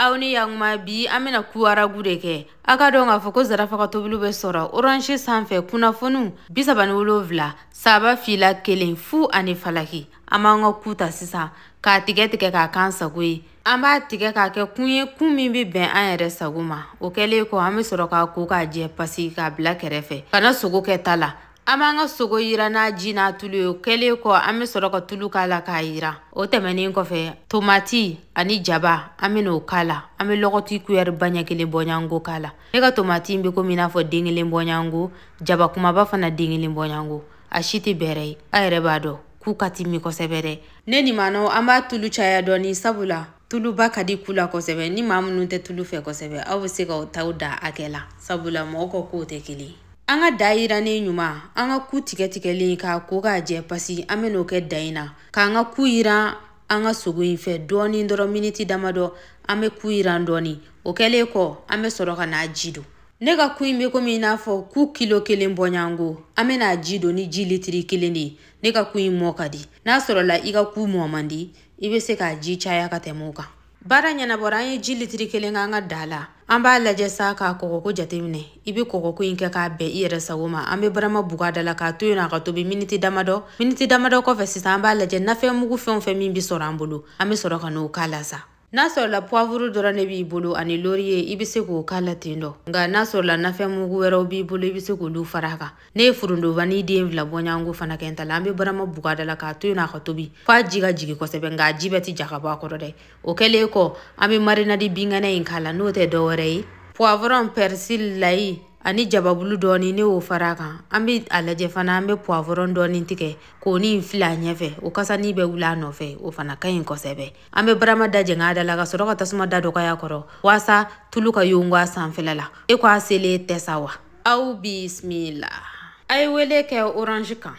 aw ni yakuma bi an bɛna ku aragu de kɛ a ka dɔn k'a fɔ ko zarafa ka tobiliw bɛ sɔrɔ orange sanfɛ kunnafoniw bisaba ni wolonfila saba fila kelen fu ani falaki an b'an ka ku ta sisan k'a tigɛ tigɛ k'a k'an sago ye an b'a tigɛ k'a kɛ kun ye kun min bɛ bɛn an yɛrɛ sago ma o kɛlen kɔ an bɛ sɔrɔ k'a ko k'a jɛ pasi k'a bila kɛrɛfɛ ka na sogo kɛ ta la an b'an ka sogo yiran n'a ji n'a tulu ye o kɛlen kɔ an bɛ sɔrɔ ka tulu k'a la k'a yiran o tɛmɛnen kɔfɛ tomati ani jaba an bɛ n'o k'a la an bɛ lɔgɔti kuyɛriba ɲɛ kelen bɔɲango k'a la ne ka tomati in bɛ komi i n'a fɔ den kelen bɔɲango jaba kumaba fana den kelen bɔɲango a si tɛ bɛrɛ ye a yɛrɛ b'a dɔn ku ka timi kosɛbɛ dɛ ne ni maanaw an b'a tulu caya dɔɔni sabula tuluba ka di ku la kosɛbɛ ni maa minnu tɛ tulu fɛ kosɛbɛ aw bɛ se k'aw taw da hakɛ la sabula mɔgɔ ka kow tɛ kelen ye an ka da yirannen ɲuman an ka ku tigɛ tigɛlen k'a ko k'a jɛ pasi an bɛ n'o kɛ da in na k'an ka ku yiran an ka sogo in fɛ dɔɔni dɔrɔn miniti damadɔ an bɛ ku yiran dɔɔni o kɛlen kɔ an bɛ sɔrɔ ka n'a ji don ne ka ku in bɛ komi i n'a fɔ ku kilo kelen bɔɲango an bɛ n'a ji don ni ji litiri kelen de ye ne ka ku in mɔ ka di n'a sɔrɔla i ka ku mɔ man di i bɛ se k'a ji caya ka tɛmɛ o kan baara ɲɛnabɔra an ye ji litiri kelen k'an ka da la an b'a lajɛ sa k'a kɔgɔko jateminɛ i bɛ kɔgɔko in kɛ k'a bɛn i yɛrɛ sago ma an bɛ barama bug'a da la k'a to yen a ka tobi miniti damadɔ miniti damadɔ kɔfɛ sisan an b'a lajɛ nafɛn mugu fɛn o fɛn min bɛ sɔrɔ an bolo an bɛ sɔrɔ ka n'o k'a la sa n'a sɔrɔla puwavuru dɔrɔn ne b'i bolo ani loriye i bɛ se k'o k'a la ten dɔ nka n'a sɔrɔla nafɛn mugu wɛrɛw b'i bolo i bɛ se k'olu fara a kan ne ye forondobani den fila bɔɲango fana kɛ n ta la an be barama bug'a da la k'a to yen a ka tobi f'a ji ka jigi kosɛbɛ nka a ji bɛɛ ti ja ka bɔ a kɔrɔ dɛ o kɛlen kɔ an be marinadi binkɛnɛ in k'a la n'o tɛ dɔwɛrɛ ye poivron persil layi ani jababulu dɔɔni ne y'o fara kan an be a lajɛ fana an be poivron dɔɔni tigɛ k'o ni fili a ɲɛfɛ o kasani bɛ wuli a nɔfɛ o fana ka ɲi kosɛbɛ an be barama da jɛng'a da la ka sɔrɔ ka tasuma da dɔgɔya kɔrɔ waasa tulu ka yongo a sanfɛla la e ko a selen tɛ sa wa aw bismila a ye wele kɛ orange kan